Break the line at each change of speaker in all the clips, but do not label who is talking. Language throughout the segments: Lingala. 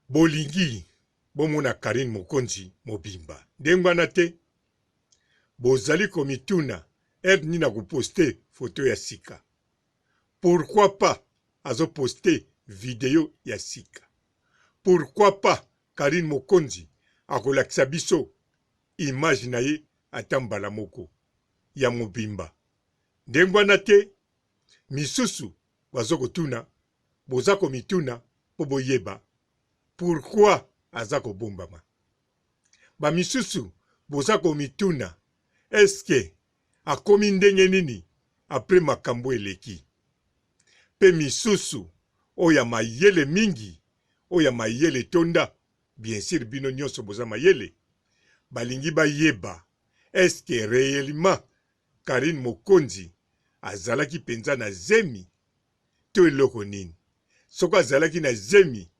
Bolingi bomona Carine Mokonzi mobimba ndenge wana te? Bozali komituna heure nini ako poster photo ya sika? Pourquoi pas azo poster video ya sika? Pourquoi pas Carine Mokonzi akolakisa biso image na ye ata mbala moko ya mobimba ndenge wana te? Misusu bazo kotuna boza komituna po boyeba pourquoi aza kobombama ba misusu boza komituna est ce que akomi ndenge nini après makambu eleki pe misusu oyo ya mayele mingi oyo ya mayele etonda bien sur bino nionso boza mayele balingi bayeba est ce que reellement Carine Mokonzi azalaki penza na zemi to eloko nini? Soki azalaki na zemi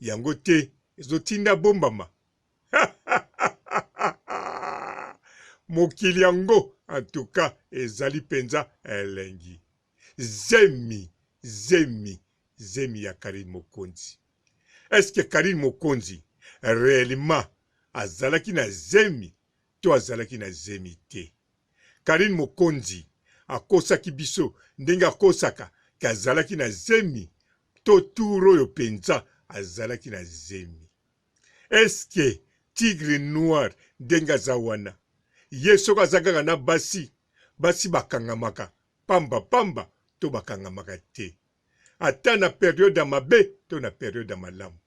yango te ezo tinda abombama? Mokili yango en tout cas ezali penza elengi. Zemi, zemi, zemi ya Carine Mokonzi. Est-ce que Carine Mokonzi reellement azalaki na zemi to azalaki na zemi te. Carine Mokonzi akosaki biso ndenge akosaka ke azalaki na zemi to tour oyo penza azalaki na zemi. Est ce que tigre noir ndenge aza wana ye soki aza kaka na basi, basi bakangamaka pamba pamba to bakangamaka te? ata na periode ya mabe to na periode ya malamu,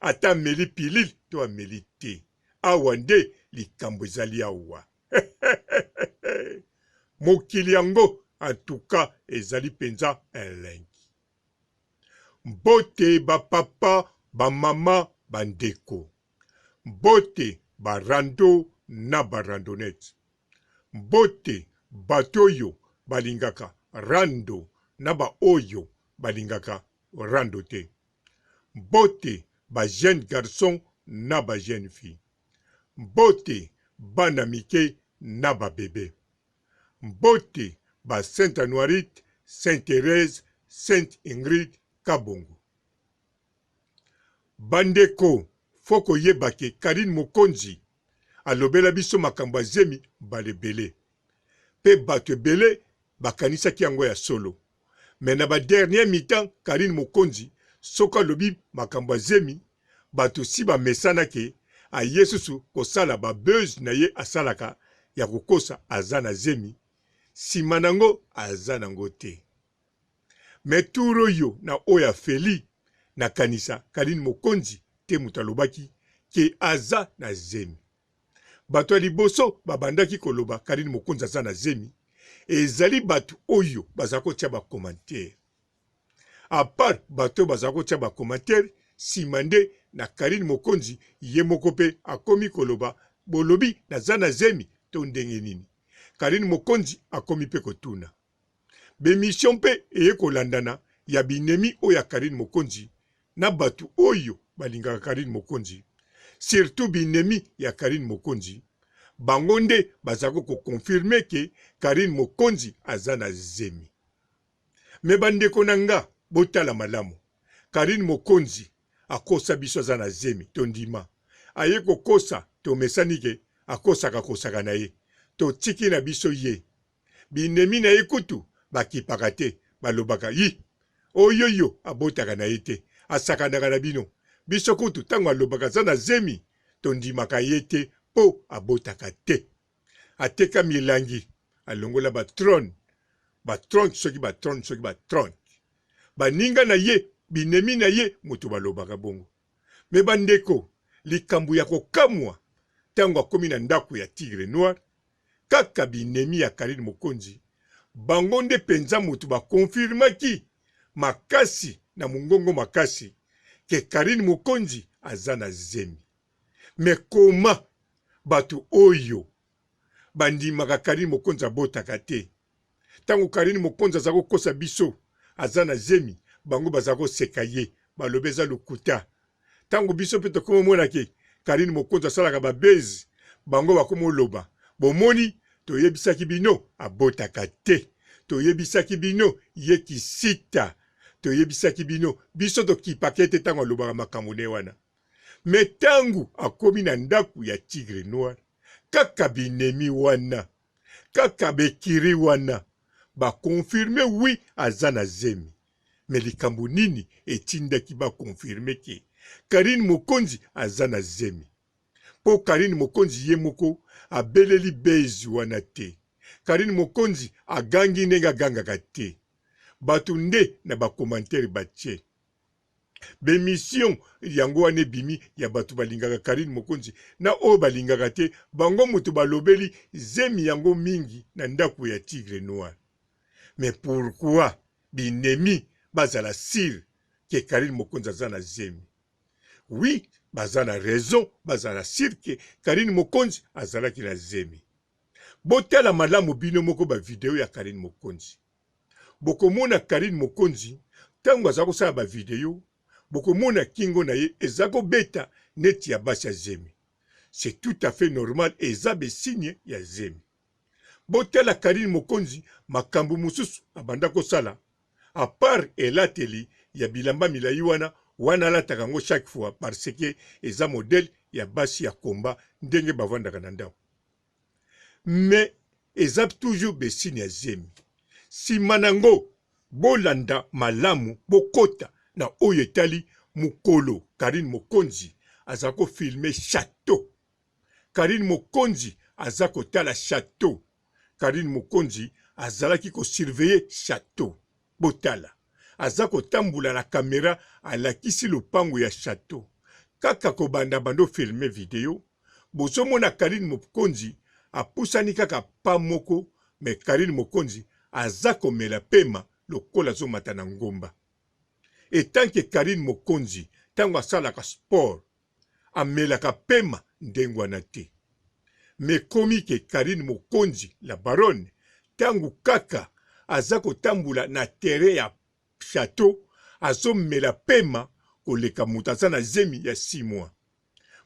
ata ameli pilile to ameli te, awa nde likambo ezali awa mokili yango en tout cas ezali penza elengi. Mbote ba papa, ba mama, ba ndeko. Mbote ba rando na ba randonnette. Mbote bato oyo balingaka rando na ba oyo balingaka rando te. Mbote ba jeunes garçons na ba jeunes filles. Mbote bana mike na ba bebe. Mbote ba Sainte Anuarite, Sainte Therèse, Sainte Ingrid, Kabongo. Bandeko faut koyeba ke Carine Mokonzi alobela biso makambo ya zemi mbala ebele pe batu ebele bakanisaki yango ya solo mais na ba dernier mi-temps Carine Mokonzi soki alobi makambo ya zemi batu si bamesana ke aye susu kosala ba buzz na ye asalaka ya kokosa aza na zemi sima nango aza nango te. Mais tour oyo na oyo ya Felly na kanisa Carine Mokonzi te moto alobaki ke aza na zemi. Bato ya liboso ba bandaki ko loba Carine Mokonzi aza na zemi ezali bato oyo bazali ko tia ba commentaires. A part bato oyo bazali ko tia ba commentaires sima nde na Carine Mokonzi ye moko pe akomi ko loba bolobi naza na zemi to ndenge nini? Carine Mokonzi akomi pe ko tuna. B'emission mpe eye kolandana ya binemi oyo ya Carine Mokonzi na batu oyo balingaka Carine Mokonzi surtout binemi ya Carine Mokonzi bango nde bazako ko confirmer que Carine Mokonzi aza na zemi. Mais bandeko na nga botala malamu Carine Mokonzi akosa biso aza na zemi tondima aye kokosa tomesani ke akosaka kosaka na ye totiki na biso ye. binemi na ye kutu bakipaka te, balobaka yi oyoyo abotaka na ye te, asakanaka na bino, biso kutu tango alobaka aza na zemi tondimaka ye te po abotaka te, ateka milangi, alongola ba trone, ba tront soki ba trone soki ba tront, baninga na ye, binemi na ye mutu balobaka bongo, mais bandeko likambo ya kokamua tango akomi na ndaku ya tigre noir kaka binemi ya Carine Mokonzi, bango nde penza mutu ba confirmaki makasi na mungongo makasi que Carine Mokonzi aza na zemi. Mais comment batu oyo bandimaka Carine Mokonzi abotaka te, Tango Carine Mokonzi aza ko kosa biso aza na zemi bango baza ko seka ye balobi eza lokuta. Tango biso pe tokomo mona ke Carine Mokonzi asalaka ba buzz bango bakomo loba bomoni toyebisaki bino abotaka te toyebisaki bino ye kisita toyebisaki bino biso tokipaka ye te tango alobaka makambo na ye wana me tango akomi na ndaku ya tigre noir kaka binemi wana Kaka b'ecuries wana ba confirme oui aza na zemi mais likambo nini etindaki ba confirme que Carine Mokonzi aza na zemi? Po Carine Mokonzi ye moko abeleli buzz wana te, Carine Mokonzi agangi ndenge agangaka te, batu nde na ba commentaires batie. bemission yango wana ebimi ya bato balingaka karine mokonzi na oyo balingaka te bango moto balobeli zemi yango mingi na ndako ya tigre noir mais pourquoi binemi bazala sire ke karine mokonzi aza na zemi wi baza na raison bazala sire ke karine mokonzi azalaki na zemi botala malamu bino moko bavideo ya karine mokonzi bokomona Carine Mokonzi tango aza kosala ba video bokomona kingo na ye eza kobeta neti ya basi ya zemi c'est tout à fait normal et eza be signe ya zemi botala Carine Mokonzi makambo mosusu abanda kosala à part elateli ya bilamba milayi wana wana alataka yango chaque fois parce que eza modèle ya basi ya combat ndenge bavandaka na ndako mais eza toujours besigne ya zemi sima na ngo bolanda malamu bokota na oyo etali mukolo carine mokonzi aza ko filme chateau carine mokonzi aza kotala chateau carine mokonzi azalaki ko surveiller chateau Botala, aza kotambola na camera alakisi lopango ya chateau. Kaka kobanda banda ofilme video bozo mona Carine mopkonzi apusani kaka pas moko mais Carine mokonzi aza komela pema lokola azo mata na ngomba. Etant que Carine mokonzi tango asalaka sport amelaka pema ndenguana te mais komi ke Carine mokonzi la baronne tangu kaka aza kotambola na terrain ya chateau azo mela pema koleka moto aza na zemi ya six mois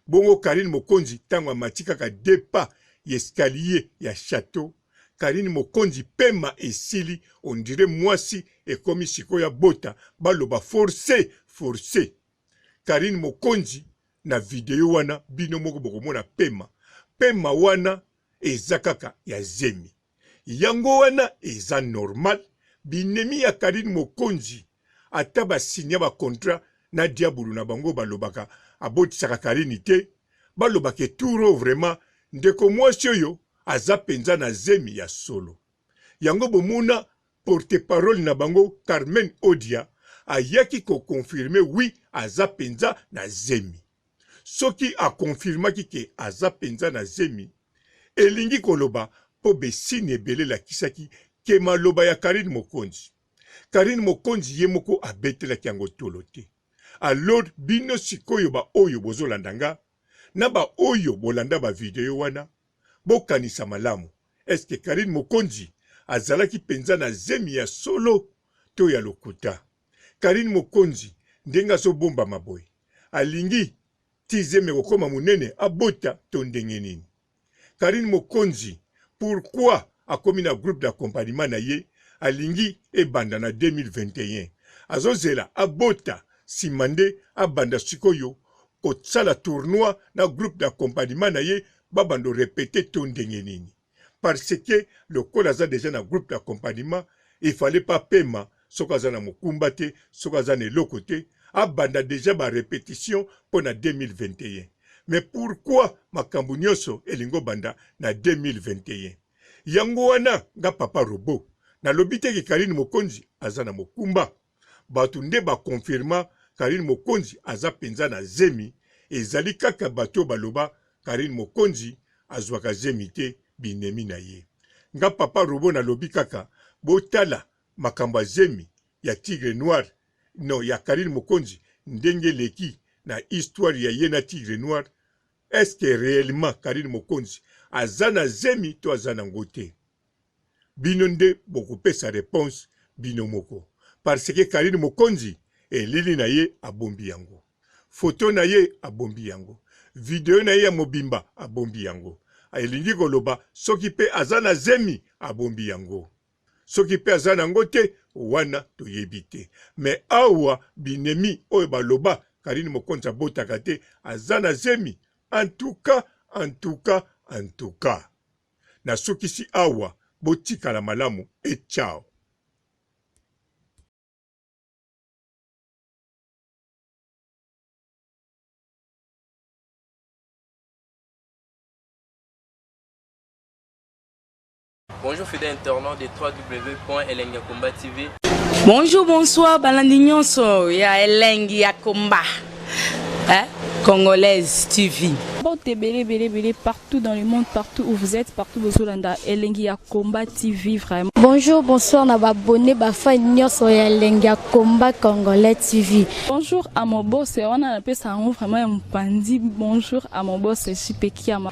bongo Carine mokonzi tangu amati kaka deux pas y'escalier ya chateau Carine mokonzi pema esili on dirait muasi ekomi sikoyo abota baloba force force Carine Mokonzi na video wana bino moko bokomona pema pema wana eza kaka ya zemi yango wana eza normal binemi ya Carine Mokonzi ata basinya ba contrat na diabulu na bango balobaka abotisaka Carine te balobaka eturo vraiment ndeko mwasi oyo aza penza na zemi ya solo yango bomona Porte-parole na bango Carmen Odia ayaki ko confirmer oui aza penza na zemi. Soki a confirmaki que aza penza na zemi, elingi koloba mpo be signes ebele elakisaki que maloba ya Carine Mokonzi. Carine Mokonzi ye moko abetelaki yango tolo te. Alors bino sikoyo ba oyo bozolanda nga, na ba oyo bolanda ba video wana bokanisa malamu est ce que Carine Mokonzi azalaki penza na zemi ya solo to ya lokuta? Carine Mokonzi ndenge azo bombama boye alingi ti zemi ekokoma munene abota to ndenge nini? Carine mokonzi pourquoi akomi na groupe d'accompagnement na ye alingi ebanda na 2021 azozela abota sima nde abanda sikoyo kosala tournoi na groupe d'accompagnement na ye babando repete to ndenge nini parce que lokola aza deja na groupe d'accompagnement il fallait pas pema soki aza na mokumba te, soki aza na eloko te, abanda dejà ba repetition mpo na 2021. Mais pourquoi makambo nionso elingi obanda na 2021? Yango wana nga Papa Robot nalobi te ke Carine Mokonzi aza na mokumba. Batu nde ba confirma Carine Mokonzi aza penza na zemi, ezali kaka batu oyo baloba Carine Mokonzi azuaka zemi te, binemi na ye. Nga Papa Robot nalobi kaka botala Makambo ya zemi ya tigre noir non ya carine mokonzi ndenge eleki na histoire ya ye na tigre noir est ce que reellement carine mokonzi aza na zemi to aza na ngo te bino nde bokopesa reponse bino moko par ce que carine mokonzi elili na ye abombi yango photo na ye abombi yango video na ye ya mobimba abombi yango elingi koloba soki pe aza na zemi abombi yango soki mpe aza nango te wana toyebi te me awa binemi oyo baloba karine mokonzi abotaka te aza na zemi antuka antuka antuka nasukisi awa botikala malamu e chao
Bonjour fidèle internaute de www.elengiakombatv. Bonjour,
bonsoir, balandi nyonso ya elengi ya komba. Hein? Congolaise TV. Porte belé belé
belé partout dans le monde, partout où vous êtes, partout où vous êtes, elengi ya combat TV vraiment. Bonjour, bonsoir na
ba abonné ba fan nyonso ya elengi ya combat congolais TV. Bonjour à mon
boss, on a la paix ça vraiment un pandi. Bonjour à mon boss, je suis Pekiama.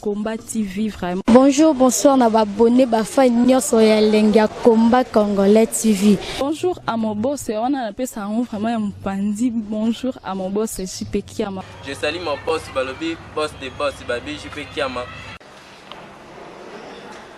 Combat TV vraiment. Bonjour, bonsoir na
babone bafa nyonso ya elengi ya Combat Congolais TV. Bonjour à mon
boss, wana napesa yango vraiment ya mopanzi. Bonjour à mon boss JP Kiama. Je salue mon boss
balobi boss de boss babi JP Kiama.